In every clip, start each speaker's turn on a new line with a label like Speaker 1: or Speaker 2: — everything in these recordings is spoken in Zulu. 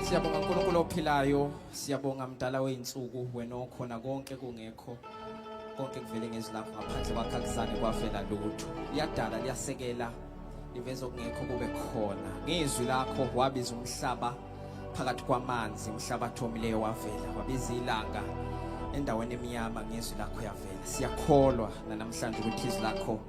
Speaker 1: Siyabonga uNkulunkulu ophilayo, siyabonga mdala weinsuku wena okhona konke kungekho. Konke kuvele ngezilapho ngaphandle kwakhe akuzange kwavela lutho. Liyadala liyasekela liveza okungekho kube khona. Ngizwi lakho wabiza umhlaba phakathi kwamanzi, umhlaba thomileyo wavela, wabiza ilanga endaweni emnyama ngezwi lakho yavela. Siyakholwa nanamhlanje ukuthi izwi lakho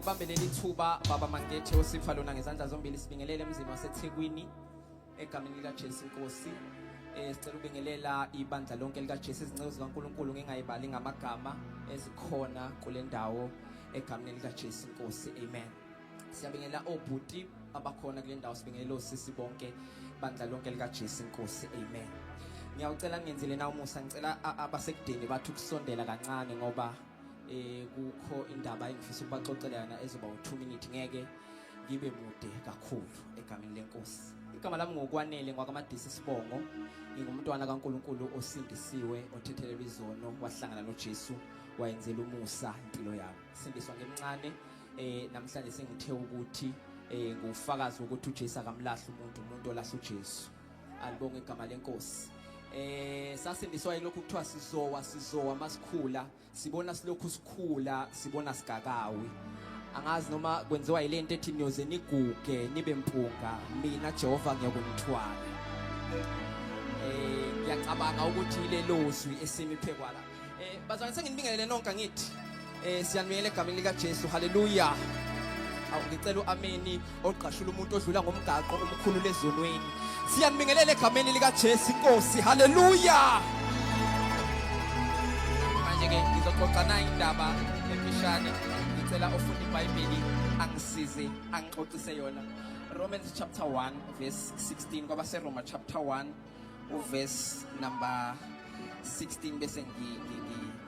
Speaker 1: Bambe leli thuba baba Mangethe osipha lona ngezandla zombili sibingelele emzini waseThekwini egameni lika Jesu Nkosi eh sicela ubingelela ibandla lonke lika Jesu izinceku zikaNkuluNkulu ngingayibali ngamagama ezikhona kule ndawo egameni lika Jesu Nkosi amen siyabingelela obhuti abakhona kule ndawo sibingelela osisi bonke bandla lonke lika Jesu Nkosi amen ngiyawucela ngenzele na umusa ngicela abasekudeni bathu kusondela kancane ngoba eh kukho indaba engifisa ukubaxoxela yona ezoba u2 minute ngeke ngibe mude kakhulu egameni lenkosi igama lami ngokwanele ngwakamadisi sibongo ngingumntwana kaNkuluNkulu osindisiwe othethelelwa izono wahlangana noJesu wayenzela umusa impilo yami sindiswa ngemncane eh namhlanje sengithe ukuthi eh ngufakazi ukuthi uJesu akamlahli umuntu umuntu olahla uJesu alibonge igama lenkosi eh sasindiswa yilokhu kuthiwa sizowa sizowa masikhula sibona silokhu sikhula sibona sigakawi angazi noma kwenziwa ilento ethi niyoze niguge nibe mpunga mina Jehova ngiyakunithwala eh ngiyacabanga ukuthi lelozwi esimi phekwa la Eh, bazalwane senginibingelele nonke angithi eh siyanibingelela egameni lika Jesu haleluya awu ngicela uameni ogqashula umuntu odlula ngomgaqo umkhulu lezonweni siyanibingelela egameni lika Jesu inkosi haleluya manje ke ngizoxoxa nayi indaba emfishane ngicela ofunda iBhayibheli angisize angixoxise yona Romans chapter 1 verse 16 kwaba seRoma chapter 1 uverse number 16 bese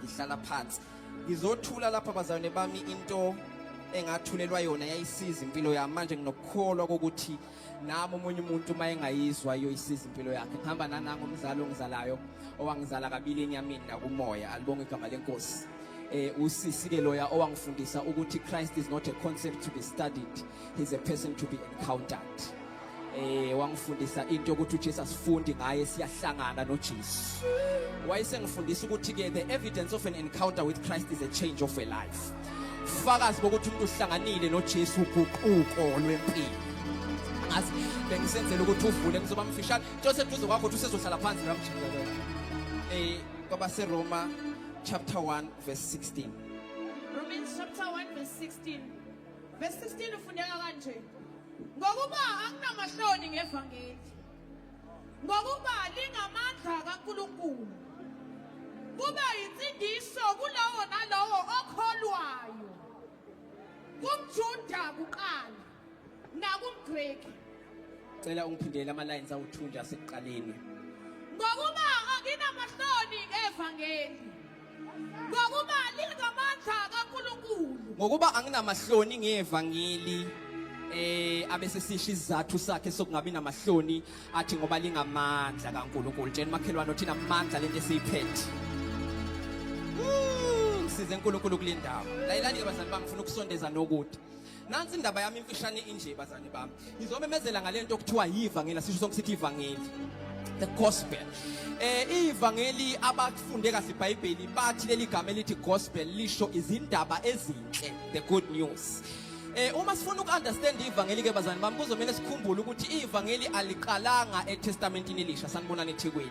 Speaker 1: ngihlala phansi ngizothula lapha bazalwane bami into engathulelwa yona yayisiza impilo yami manje nginokukholwa kokuthi nami omunye umuntu uma engayizwa iyoyisiza impilo yakhe ngihamba nanango umzali ongizalayo owangizala kabili enyameni nakumoya alibonge igama lenkosi eh usisi ke loya owangifundisa ukuthi Christ is not a concept to be studied he's a person to be encountered Eh wangifundisa into ukuthi uJesu asifundi ngaye siyahlangana noJesu. Wayesengifundisa ukuthi ke the evidence of an encounter with Christ is a change of a life. Fakazi bokuthi umuntu uhlanganile noJesu uguquko lwempilo. Ngazi bengisenzela ukuthi uvule ngizoba mfishane. Into seduze kwakho uthi usezohlala phansi la mjikelo. Eh kwaba seRoma chapter 1 verse 16. Romans chapter 1 verse 16. Verse
Speaker 2: 16 ufundeka kanje. Ngokuba anginamahloni ngevangeli. Ngokuba lingamandla kaNkulunkulu. Kuba insindiso kulowo nalowo okholwayo. KumJuda kuqala nakumGreki.
Speaker 1: Cela ungiphindele ama lines awuthunja sekuqaleni. Ngokuba
Speaker 2: anginamahloni ngevangeli. Ngokuba lingamandla
Speaker 1: kaNkulunkulu.
Speaker 2: Ngokuba
Speaker 1: anginamahloni
Speaker 2: ngevangeli
Speaker 1: eh abese sisho isizathu sakhe sokungabi namahloni athi ngoba lingamandla kaNkuluNkulu tsheni makhelwane uthina amandla lento esiyiphethe size uNkulunkulu kulendawo layilani bazali bangifuna ukusondeza nokude Nansi indaba yami imfishane inje bazane bami. Ngizomemezela ngalento okuthiwa yivangeli sisho sonke sithi ivangeli. The gospel. Eh ivangeli abafunde kahle iBhayibheli bathi leli gama elithi gospel lisho izindaba ezinhle, the good news. Eh uma sifuna ukunderstand ivangeli ke bazane bami kuzomela sikhumbule ukuthi ivangeli aliqalanga eTestamentini elisha sanibonani eThekwini.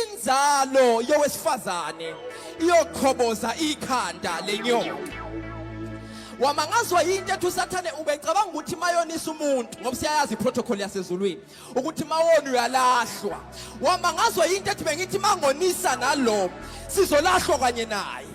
Speaker 1: Inzalo yowesifazane iyoqhoboza ikhanda lenyoka. Wamangazwa yinto ethi uSathane ubecabanga ukuthi mayonisa umuntu ngoba siyayazi iprotocol yasezulwini ukuthi mawona uyalahlwa. Wamangazwa yinto ethi bengithi mangonisa nalo sizolahlwa kanye naye.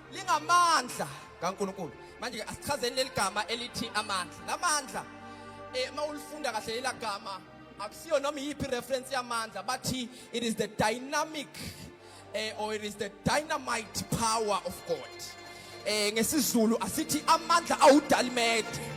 Speaker 1: lingamandla kaNkulunkulu manje ke asichazeni leli gama elithi amandla lamandla eh uma ulifunda kahle leli gama akusiyo noma iyiphi reference yamandla bathi it is the dynamic eh or it is the dynamite power of God eh ngesizulu asithi amandla awudalimede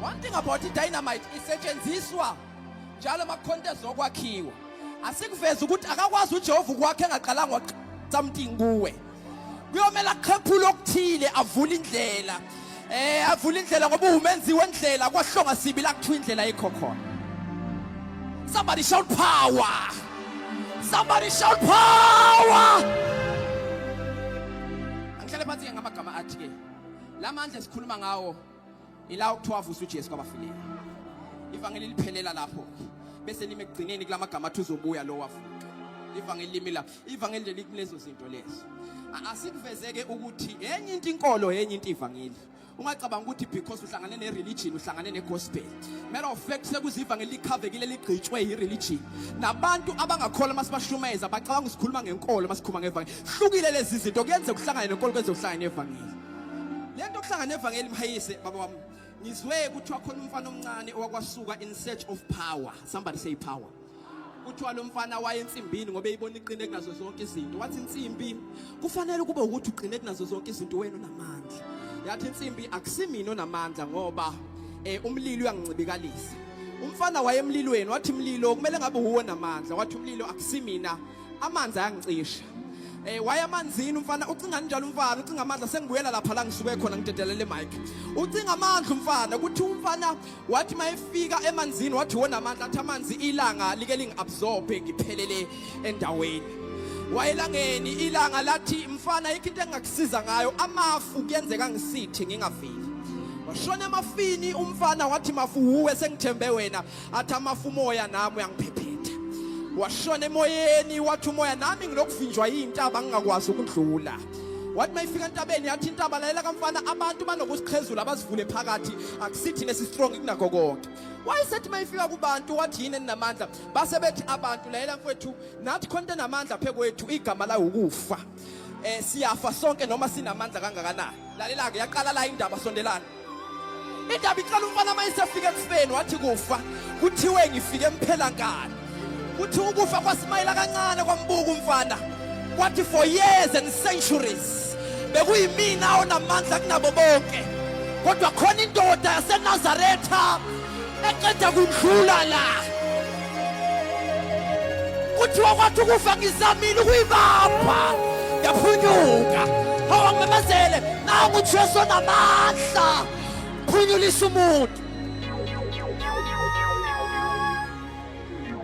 Speaker 1: One thing about i-dynamite isetshenziswa njalo ama-contest okwakhiwa asikuveza ukuthi akakwazi ujehova ukwakhe engaqalanga something kuwe kuyomele aqhephule okuthile avule indlela eh avule indlela ngoba umenzi wendlela kwahlonga sibi la kuthiwa indlela yikho khona somebody shout power somebody shout power angihlale phansi ke ngamagama athi ke la mandla esikhuluma ngawo ila okuthiwa avusa uJesu kwabafileyo ivangeli liphelela lapho bese lime ekugcineni kulamagama athi uzobuya lo wavuka ivangeli limi lapho ivangeli leli kulezo zinto lezo asikuvezeke ukuthi enye into inkolo enye into ivangeli ungacabanga ukuthi because uhlangane ne-religion uhlangane ne-gospel matter of fact sekuziva ngelikhavekile ligqitshwe yi-religion nabantu abangakholwa uma sibashumeza bacabanga usikhuluma ngenkolo uma sikhuluma ngevangeli hlukile lezi zinto kuyenzeka uhlangane nenkolo kwenze uhlangane nevangeli lento kuhlanga nevangeli mhayise baba wami ngizwe kuthiwa khona umfana omncane owakwasuka in search of power somebody say power kuthiwa lo mfana waye ensimbini ngoba eyibona iqine kunazo zonke izinto wathi insimbi kufanele kube ukuthi uqine kunazo zonke izinto wena unamandla yathi insimbi akusimina onamandla ngoba eh umlilo uyangincibikalisa umfana wayemlilweni wathi mlilo kumele ngabe uwo namandla wathi umlilo akusimina amanzi ayangicisha Eh waya amanzini umfana ucinga njalo umfana ucinga amandla sengibuyela lapha la ngisuke khona ngidedelele mic ucinga amandla umfana ukuthi umfana wathi mayefika emanzini wathi wona amandla athi amanzi ilanga like lingiabsorbe ngiphelele endaweni wayelangeni ilanga lathi mfana ikho into engakusiza ngayo amafu kuyenzeka ngisithe ngingaveli washona emafini umfana wathi mafu wuwe sengithembe wena athi amafu umoya nami uyangiphephetha washona emoyeni wathi umoya nami ngilokuvinjwa yintaba ngingakwazi ukudlula wathi mayifika entabeni yathi intaba lalela kamfana abantu banokusiqhezula abazivule phakathi akusithi nesi strong kunakho konke wayesethi mayifika kubantu wathi yini enamandla base bethi abantu lalela mfowethu nathi khona enamandla phekwethu igama la ukufa Eh siyafa sonke noma sinamandla kangakanani. Lalela ke yaqala la indaba sondelana. Indaba iqala umfana uma isefika ekufeni wathi kufa. Kuthiwe ngifike emphela nkani. Kuthi ukufa kwasimayela kancane kwambuka umfana. Kwathi for years and centuries bekuyimina onamandla kunabo bonke. Kodwa khona indoda yaseNazaretha eqeda kundlula la kuthiwa kwathi ukufa ngizamile ukuyibamba yaphunyuka awangimemezele nangu ujesu onamandla phunyulisa umuntu